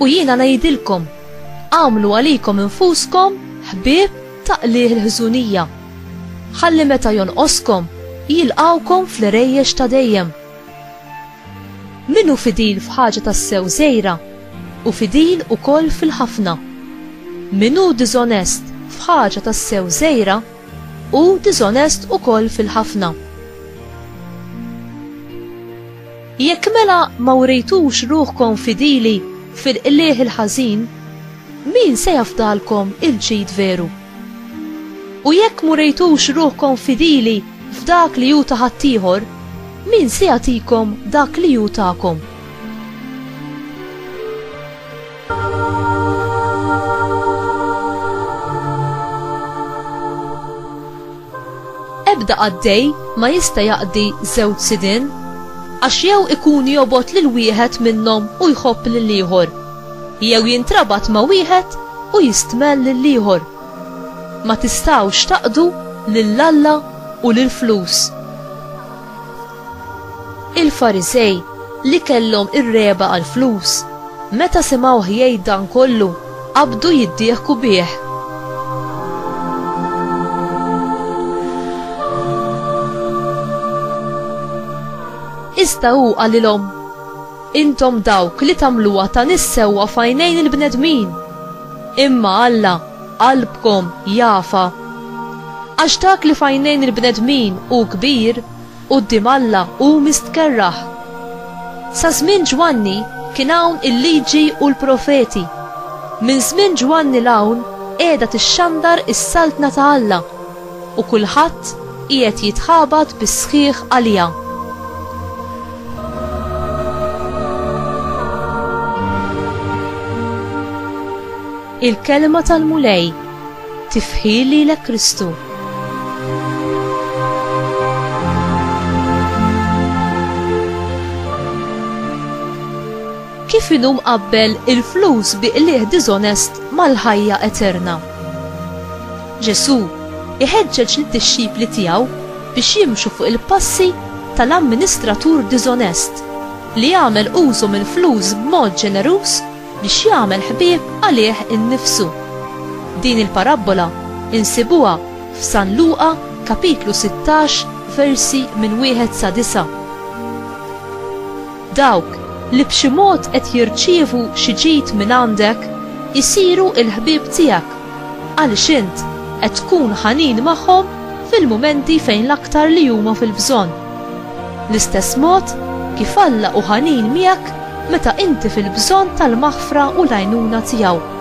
U jiena ngħidilkom, agħmlu għalikom infuskom ħbieb ta' qligħ il-ħżunija, ħalli meta jonqoskom jilqgħukom fl-għrejjex ta' dejjem. Min hu fidil f'ħaġa tassew żgħira, hu fidil ukoll fil-ħafna. Min hu diżonest f'ħaġa tassew żgħira, hu diżonest ukoll fil-ħafna. Jekk mela ma wrejtux ruħkom fidili fil-qligħ il-ħażin, min se jafdalkom il-ġid veru? U jekk murejtux ruħkom fidili f'dak li hu ta' ħaddieħor, min se jagħtikom dak li hu tagħkom? Ebda qaddej ma jista' jaqdi żewġ sidien, għax jew ikun jobgħod lil wieħed minnhom u jħobb lill-ieħor, jew jintrabat ma' wieħed u jistmell lill-ieħor. Ma tistgħux taqdu lil Alla u lill-flus. Il-Farisej, li kellhom ir-regħba għall-flus, meta simgħuh jgħid dan kollu, qabdu jiddieħku bih. Iżda hu qalilhom, Intom dawk li tagħmluha ta' nies sewwa f'għajnejn il-bnedmin, imma Alla qalbkom jafa. Għax dak li f'għajnejn il-bnedmin hu kbir, Quddiem Alla hu mistkerrah. Sa żmien Ġwanni kien hawn il-Liġi u l-Profeti. Minn żmien Ġwanni 'l hawn qiegħda tixxandar is-Saltna ta' Alla, u kulħadd qiegħed jitħabat bis-sħiħ għaliha. Il-Kelma tal-Mulej, Tifħir lilek Kristu. kif inhu mqabbel il-flus bi qligħ diżonest mal-ħajja eterna. Ġesù iħeġġeġ lid-dixxipli tiegħu biex jimxu fuq il-passi tal-amministratur diżonest li għamel użu mill-flus b'mod ġeneruż biex jagħmel ħbieb għalih innifsu. Din il-parabbola insibuha f'San Luqa kapitlu 16 versi minn wieħed sa disa'. Dawk li b'xi mod qed jirċievu xi ġid mingħandek isiru l-ħbieb tiegħek. Għaliex int qed tkun ħanin magħhom fil-mumenti fejn l-aktar li huma fil-bżonn. L-istess mod kif Alla hu ħanin miegħek meta inti fil-bżonn tal-maħfra u l-għajnuna tiegħu.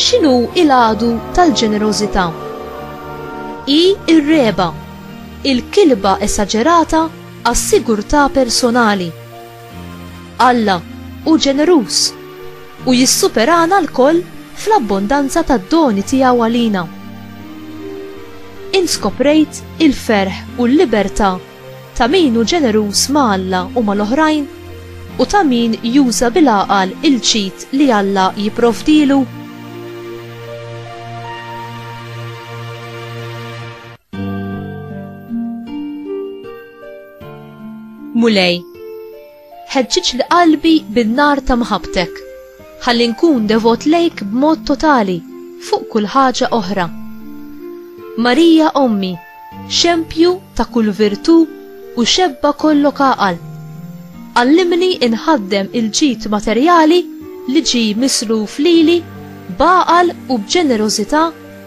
x'inhu il-għadu tal-ġenerożità. Hi r-regħba, il-kilba esaġerata għas-sigurtà personali. Alla hu ġeneruż u jissuperana lkoll fl-abbondanza tad-doni tiegħu għalina. Int skoprejt il-ferħ u l-libertà ta' min hu ġeneruż ma' Alla u mal-oħrajn u ta' min juża bil-għaqal il-ġid li Alla jipprovdilu? Mulej, ħeġġiġ li qalbi bin-nar ta' mħabtek, ħalli nkun devot lejk b'mod totali fuq kull ħaġa oħra. Marija Ommi, xempju ta' kull virtù u xebba kollok għaqal. Allimni inħaddem il-ġid materjali li ġi misluf lili b'għaqal u b'ġenerożità